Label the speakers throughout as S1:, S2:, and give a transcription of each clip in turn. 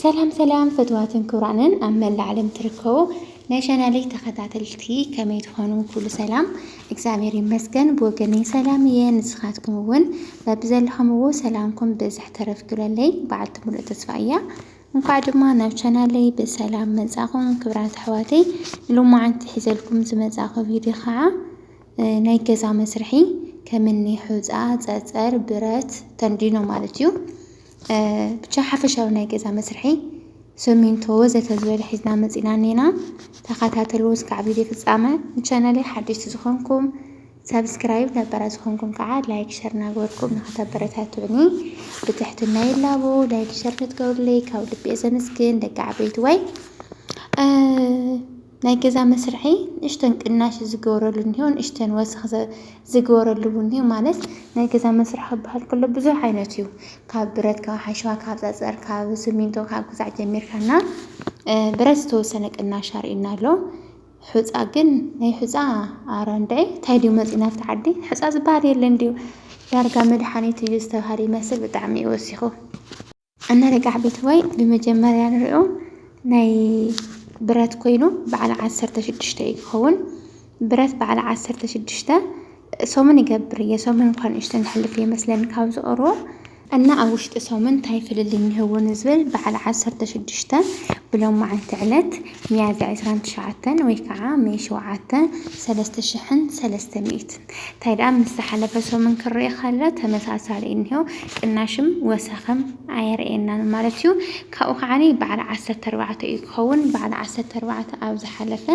S1: ሰላም ሰላም ፈትዋትን ክብራንን ኣብ መላእ ዓለም ትርከቡ ናይ ቻናለይ ተኸታተልቲ ከመይ ትኾኑ ኩሉ ሰላም እግዚኣብሔር ይመስገን ብወገነይ ሰላም እየ ንስኻትኩም እውን በብዘለኹምዎ ሰላምኩም ብዝሕ ተረፍ ክብለለይ በዓልቲ ሙሉእ ተስፋ እያ እንኳዕ ድማ ናብ ቻናለይ ብሰላም መጻኹም ክብራት ኣሕዋተይ ሎማዓንቲ ሒዘልኩም ዝመጻኹ ቪድዮ ከዓ ናይ ገዛ መስርሒ ከምኒ ሑፃ ፀፀር ብረት ተንዲኖ ማለት እዩ ብቻ ሓፈሻዊ ናይ ገዛ መስርሒ ሰሚንቶ ወዘተ ዝበለ ሒዝና መፂና እኔና ተኸታተሉ እስካዕ ቪድዮ ፍፃመ ንቻናለይ ሓደሽቲ ዝኾንኩም ሳብስክራይብ ነበራ ዝኾንኩም ከዓ ላይክ ሸር እናገበርኩም ንኸተበረታትዑኒ ብትሕትና ይላቦ ላይክ ሸር ንትገብሩለይ ካብ ልቤ ዘመስግን ደቂ ዓበይቲ ወይ ናይ ገዛ መስርሒ ንእሽተን ቅናሽ ዝገበረሉ እኒሆ ንእሽተን ወሰኽ ዝገበረሉ እውን እኒሆ ማለት ናይ ገዛ መስርሒ ክበሃል ከሎ ብዙሕ ዓይነት እዩ ካብ ብረት ካብ ሓሸዋ ካብ ፀፀር ካብ ስሚንቶ ካብ ግዛዕ ጀሚርካ እና ብረት ዝተወሰነ ቅናሽ ኣርእዩና ኣሎ ሑፃ ግን ናይ ሑፃ ኣረ እንድዒ እንታይ ድዩ መፂና ኣብቲ ዓዲ ሑፃ ዝበሃል የለን ድዩ ዳርጋ መድሓኒት እዩ ዝተብሃለ ይመስል ብጣዕሚ እዩ ወሲኹ ኣነ ርጋዕ ቤተወይ ብመጀመርያ ንሪኦ ናይ ብረት ኮይኑ በዓል ዓሰርተ ሽዱሽተ እዩ ክኸውን ብረት በዓል ዓሰርተ ሽዱሽተ ሶምን ይገብር እየ ሶምን እንኳን ንእሽተን ዝሕልፍ እየ መስለን ካብ ዝቐርቦ እና ኣብ ውሽጢ ሶምን እንታይ ፍልልይ እንህዎ ንዝብል በዓል ዓሰርተ ሽዱሽተ ብሎም መዓልቲ ዕለት ሚያዝያ ዕስራን ትሽዓተን ወይ ከዓ ሜይ ሸውዓተ ሰለስተ ሽሕን ሰለስተ ሚእት ታይ ደኣ ምስ ዝሓለፈ ሰሙን ክረኤ ከሎ ተመሳሳሊ እንሄው ቅናሽም ወሰኽም ኣየርእየናን ማለት እዩ ካብኡ ከዓኒ በዓል ዓሰርተ ኣርባዕተ እዩ ክኸውን በዓል ዓሰርተ ኣርባዕተ ኣብ ዝሓለፈ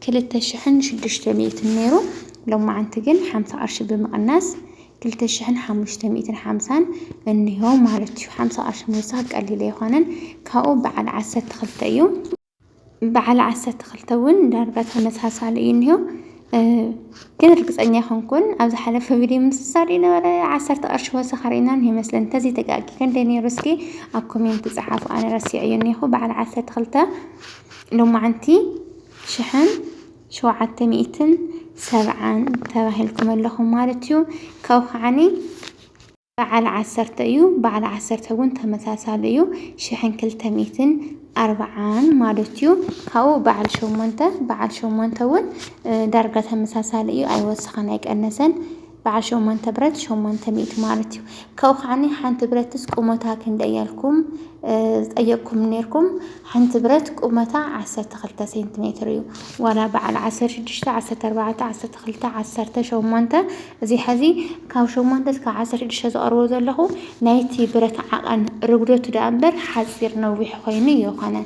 S1: ክልተ ሽሕን ሽዱሽተ ሚእትን ነይሩ ሎማዓንቲ ግን ሓምሳ ቅርሺ ብምቕናስ ክልተ ሽሕን ሓሙሽተ ሚእትን ሓምሳን እንሆ ማለት እዩ። ሓምሳ ቅርሺ ምውሳኽ ቀሊል ኣይኮነን። ካብኡ በዓል ዓሰርተ ክልተ እዩ። በዓል ዓሰርተ ክልተ እውን ዳርጋ ተመሳሳሊ እዩ እኒሆ ግን እርግፀኛ ኣይኮንኩን ኣብ ዝሓለፈ ቪድዮ ምስሳር ነበረ ዓሰርተ ቅርሺ ወሰኽ ርኢና እኒሆ ይመስለን እንተዚ ተጋጊ ክንደይ ነይሩ እስኪ ኣብ ኮሜንት ፀሓፉ ኣነ ረሲዐ እዩ እኒኹ በዓል ዓሰርተ ክልተ ሎማዓንቲ ሽሕን ሸውዓተ ሚእትን ሰብዓን ተባሂልኩም ኣለኹም ማለት እዩ ካብኡ ከዓኒ በዓል ዓሰርተ እዩ። በዓል ዓሰርተ እውን ተመሳሳሊ እዩ። ሽሕን ክልተ ሚእትን ኣርብዓን ማለት እዩ። ካብኡ በዓል ሸሞንተ፣ በዓል ሸሞንተ እውን ዳርጋ ተመሳሳሊ እዩ። ኣይወሰኸን ኣይቀነሰን። በዓል ሸሞንተ ብረት ሸሞንተ ሚእቲ ማለት እዩ። ካብኡ ከዓኒ ሓንቲ ብረትስ ቁመታ ክንደይ እያልኩም ዝጠየቅኩም ነይርኩም። ሓንቲ ብረት ቁመታ ዓሰርተ ክልተ ሴንቲሜትር እዩ። ዋላ በዓል ዓሰርተ ሽዱሽተ፣ ዓሰርተ ኣርባዕተ፣ ዓሰርተ ክልተ፣ ዓሰርተ ሸሞንተ እዚ ሐዚ ካብ ሸሞንተ እስካብ ዓሰርተ ሽዱሽተ ዘቕርቦ ዘለኹ ናይቲ ብረት ዓቐን ርጉደቱ ደኣ እምበር ሓጺር ነዊሕ ኾይኑ እየኮነ።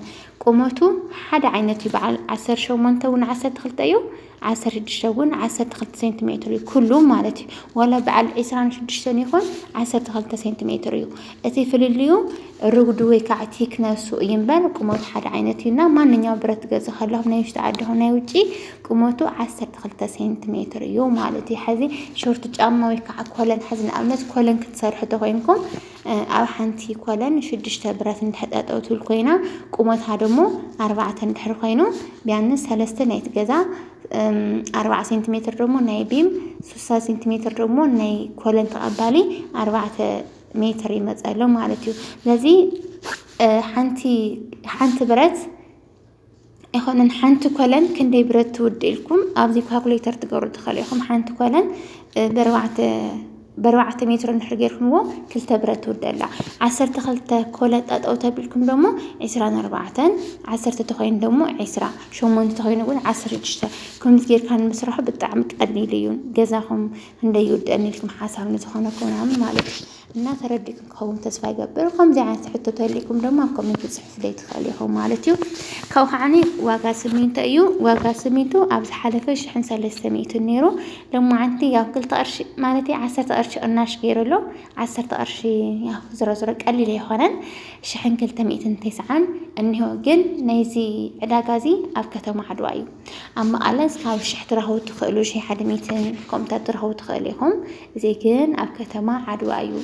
S1: ቁመቱ ሓደ ዓይነት እዩ በዓል ዓሰርተ ሸሞንተ እውን ዓሰርተ ክልተ እዩ ዓሰርተ ሽዱሽተ እውን ዓሰርተ ክልተ ሴንቲሜትር እዩ ኩሉ ማለት እዩ ዋላ በዓል ዕስራን ሽዱሽተን ይኹን ዓሰርተ ክልተ ሴንቲሜትር እዩ። እቲ ፍልልዩ ርጉዲ ወይ ከዓ ቲክነሱ እዩ እምበር ቁመቱ ሓደ ዓይነት እዩ እና ማንኛው ብረት ገዝ ከለኹም ናይ ውሽጢ ዓዲ ይኹን ናይ ውጪ ቁመቱ ዓሰርተ ክልተ ሴንቲሜትር እዩ ማለት እዩ። ሕዚ ሾርት ጫማ ወይ ከዓ ኮለን ሕዚ ንኣብነት ኮለን ክትሰርሑ ተኮይንኩም ኣብ ሓንቲ ኮለን ሽዱሽተ ብረት እንድሕር ጠጠው ትብል ኮይና ቁመታ ደሞ ኣርባዕተ እንድሕር ኮይኑ ቢያንስ ሰለስተ ናይቲ ገዛ ኣርባዓ ሴንቲሜትር ደሞ ናይ ቢም ሱሳ ሴንቲሜትር ደሞ ናይ ኮለን ተቐባሊ ኣርባዕተ ሜትር ይመፅ ኣሎ ማለት እዩ። ስለዚ ሓንቲ ሓንቲ ብረት ኣይኮነን ሓንቲ ኮለን ክንደይ ብረት ትውድ ኢልኩም ኣብዚ ካልኩሌተር ትገብሩ ትኽእሉ ኢኹም። ሓንቲ ኮለን ብርባዕተ ብርባዕተ ሜትሮ እንድሕር ጌርኩምዎ ክልተ ብረት ትውድ ኣላ። ዓሰርተ ክልተ ኮለን ጠጠው ተቢልኩም ደሞ ዕስራን ኣርባዕተን ዓሰርተ ተኮይኑ ደሞ ዕስራ ሸሞንተ ተኮይኑ እውን ዓሰርተ ሽዱሽተ ከምዚ ጌርካ ንምስርሑ ብጣዕሚ ቀሊል እዩ ገዛኹም ክንደይ ይውደኣኒ ኢልኪ ምሓሳብ ንዝኾነ ኮነ ማለት እዩ እና ተረዲእኩም ክኸውን ተስፋ ይገብር ከምዚ ዓይነት ሕቶ ተልእኩም ድማ ኣብ ኮሜንት ፅሑፍለይ ትኽእል ኢኹም ማለት እዩ ካብኡ ከዓኒ ዋጋ ስሚንቶ እዩ ዋጋ ስሚንቶ ኣብ ዝሓለፈ ሽሕን ሰለስተ ሚእትን ነይሩ ሎማዓንቲ ያው ክልተ ቅርሺ ማለት ዓሰርተ ቅርሺ ቅናሽ ገይሩ ኣሎ ዓሰርተ ቅርሺ ያው ዝሮ ዝሮ ቀሊል ኣይኮነን ሽሕን ክልተ ሚእትን ተስዓን እኒሆ ግን ናይዚ ዕዳጋ እዚ ኣብ ከተማ ዓድዋ እዩ ኣብ መቐለ እስካብ ሽሕ ትረኽቡ ትኽእሉ ሽሕ ሓደ ሚትን ኮምታት ትረኽቡ ትኽእሉ ኢኹም። እዚ ግን ኣብ ከተማ ዓድዋ እዩ።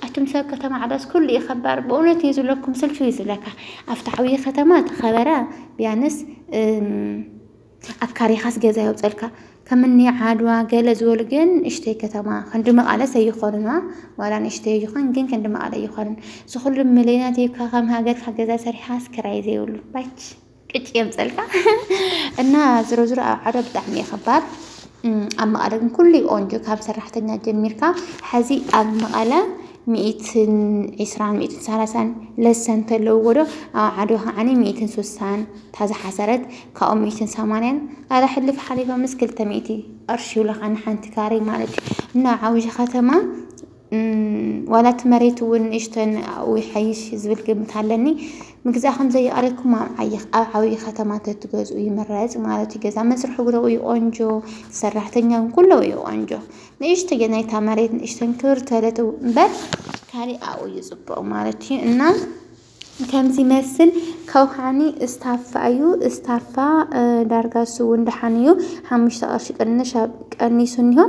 S1: ኣቱም ሰብ ከተማ ዓድዋስ ኩሉ እዩ ከባር ብእውነት እዩ ዝብለኩም ስልቹ እዩ ዝብለካ። ኣብቲ ዓብዪ ከተማ ተኸበረ ቢያንስ ኣብ ካሪኻስ ገዛ የውፀልካ ከምኒ ዓድዋ ገለ ዝበሉ ግን እሽተይ ከተማ ክንዲ መቓለስ ኣይኾኑና ዋላ ንእሽተይ ይኹን ግን ክንዲ መቓለ ኣይኾኑን ዝኹሉ ሚሊዮናት ይብካ ከም ሃገርካ ገዛ ሰሪሓስ ክራይ ዘይብሉ ባች ቅጭ የምፀልካ እና ዝሮ ዝሮ ኣብ ዓዶ ብጣዕሚ እዩ ከባድ ኣብ መቐለ ግን ኩሉ እዩ ቆንጆ ካብ ሰራሕተኛ ጀሚርካ ሕዚ ኣብ መቐለ ሚእትን ዒስራን ሚእትን ሰላሳን ለሰን ተለውዎ ዶ ኣብ ዓዶ ከዓኒ ሚእትን ሱሳን ታዝሓሰረት ካብኡ ሚእትን ሰማንያን ኣረ ሕልፍ ሓሊፎ ምስ ክልተ ሚእቲ ቅርሺ ይብለኻ ንሓንቲ ካሬ ማለት እዩ እና ዓብዪ ከተማ ዋላ እቲ መሬት እውን ንእሽተን ኣብኡ ይሓይሽ ዝብል ግምት ኣለኒ። ምግዛ ከም ዘይቀረኩም ኣብ ዓይ ኣብ ዓብይ ከተማ ተትገዝኡ ይምረጽ ማለት እዩ። ገዛ መስርሒ ጉረኡ እዩ ቆንጆ፣ ሰራሕተኛ ኩሉ እዩ ቆንጆ። ንእሽተ ናይታ መሬት ንእሽተን ክብር ተለት እምበር ካሊእ ኣብኡ እዩ ጽቡቕ ማለት እዩ እና ከምዚ መስል ከውሃኒ እስታፋ ኣዩ እስታፋ ዳርጋ እሱ እውን ደሓን እዩ ሓሙሽተ ቅርሺ ቅንሽ ኣብ ቀኒሱ እኒሆ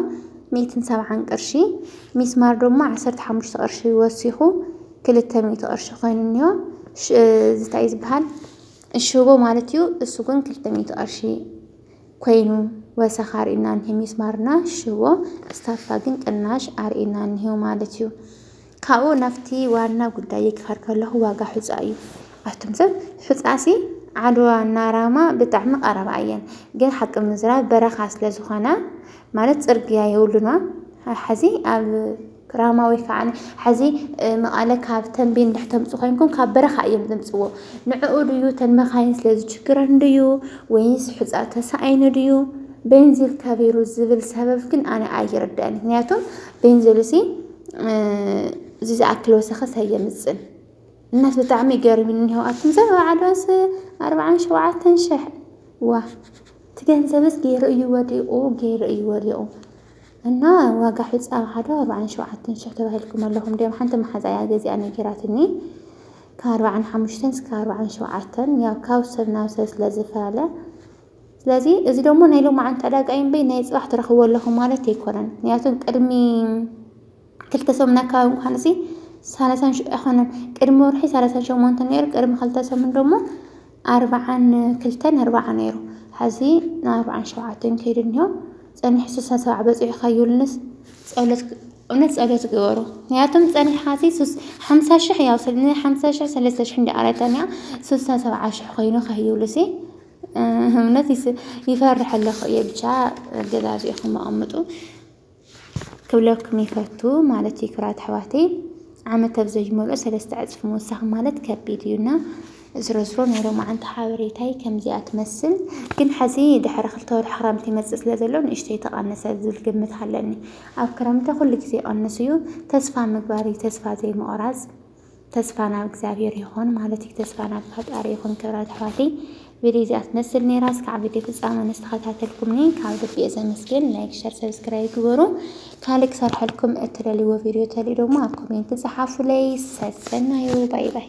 S1: ሚእትን ሰብዓን ቅርሺ ሚስማር ደሞ ዓሰርተ ሓሙሽተ ቅርሺ ወሲኹ ክልተ ሚእቲ ቅርሺ ኮይኑ እኒሆ ዝታይ ዝበሃል ሽቦ ማለት እዩ እሱ ግን ክልተ ሚእቲ ቅርሺ ኮይኑ ወሰኽ ኣርእና እኒሄ ሚስማርና ሽቦ እስታፋ ግን ቅናሽ ኣርእና እኒሄ ማለት እዩ ካብኡ ናብቲ ዋና ጉዳይ ክኸድ ከለኹ ዋጋ ሑፃ እዩ ኣቱም ሰብ ሑፃሲ ዓድዋ እና ራማ ብጣዕሚ ቀረባ እየን ግን ሓቂ ምዝራብ በረኻ ስለ ዝኾና ማለት ፅርግያ የብሉና ሓዚ ኣብ ራማ ወይ ከዓ ሓዚ መቐለ ካብ ተንቤን እንድሕ ተምፁ ኮይንኩም ካብ በረኻ እዮም ዘምፅዎ ንዕኡ ድዩ ተን መኻይን ስለ ዝችግረን ድዩ ወይስ ሕፃ ተሳኣይኑ ድዩ ቤንዚል ከቢሩ ዝብል ሰበብ ግን ኣነ ኣይርዳእን ምክንያቱም ቤንዚል ሲ እዚ ዝኣክል ወሰኸስ ኣየምፅን እናስ ብጣዕሚ ይገርምኒ እኒሆ ኣቱም ዘበ ዓዶስ ኣርብዓን ሸውዓተን ሽሕ ዋ እቲ ገንዘብስ ገይሩ እዩ ወዲቑ ገይሩ እዩ ወዲቑ እና ዋጋ ሒፃ ኣብ ሓደ ኣርብዓን ሸውዓተን ሽሕ ተባሂልኩም ኣለኹም ድም ሓንቲ መሓዛ እያ ገዚኣ ነጊራትኒ ካብ ኣርብዓን ሓሙሽተን እስከ ኣርብዓን ሸውዓተን ያው ካብ ሰብ ናብ ሰብ ስለ ዝፈላለ ስለዚ እዚ ደሞ ናይ ሎማዓንቲ ዕዳጋ እዩ እምበይ ናይ ጽባሕ ትረኽብዎ ኣለኹ ማለት ኣይኮነን። ምክንያቱ ቅድሚ ክልተ ሰሙን ኣካባቢ እንኳን እዚ ሰላሳን ሽ ኣይኮነን ቅድሚ ወርሒ ሰላሳን ሸሞንተን ነይሩ ቅድሚ ክልተ ሰሙን ደሞ ኣርብዓን ክልተን ኣርብዓ ነይሩ ሐዚ ንኣርብዓን ሸውዓተን ከይዱ እኒሆ ጸኒሑ ስሳ ሰብዓ በጺሑ ካዩልንስ ጸሎት እውነት ጸሎት ግበሩ ምክንያቱም ጸኒሕኻሲ ሱስ ሓምሳ ሽሕ ያው ንሓምሳ ሽሕ ሰለስተ ሽሕ እንዲ ኣረተንያ ስሳ ሰብዓ ሽሕ ኮይኑ ካዩሉሲ እውነት ይፈርሕ ኣለኹ እየ ብቻ ገዛዚእኹም ኣቐምጡ ክብለኩም ይፈቱ ማለት እዩ ክብራት ኣሕዋተይ ዓመት ኣብ ዘይመልኦ ሰለስተ ዕፅፊ ምውሳኽ ማለት ከቢድ እዩና ዝረዝሮ ናይ ሎማዓንቲ ሓበሬታይ ከምዚኣ ትመስል ግን ሐዚ ድሕሪ ክልተ ወርሒ ክረምቲ ይመፅእ ስለ ዘሎ ንእሽተይ ተቐነሰ ዝብል ግምት ኣለኒ ኣብ ክረምቲ ኩሉ ግዜ ይቐንስ እዩ ተስፋ ምግባር እዩ ተስፋ ዘይምቑራፅ ተስፋ ናብ እግዚኣብሔር ይኹን ማለት እዩ። ተስፋ ናብ ፈጣሪ ይኹን ክብራት ኣሕዋተይ። ቪድዮ እዚኣ ትመስል ነይራ። እስካዕ ቪድዮ ፍጻመ ንስተኸታተልኩምኒ ካብ ልቢ እየ ዘመስግን። ላይክ፣ ሸር፣ ሰብስክራይብ ግበሩ። ካልእ ክሰርሐልኩም እትደልይዎ ቪድዮ ተልዩ ደግሞ ኣብ ኮሜንት ጸሓፉለይ። ሰሰናዩ ባይ ባይ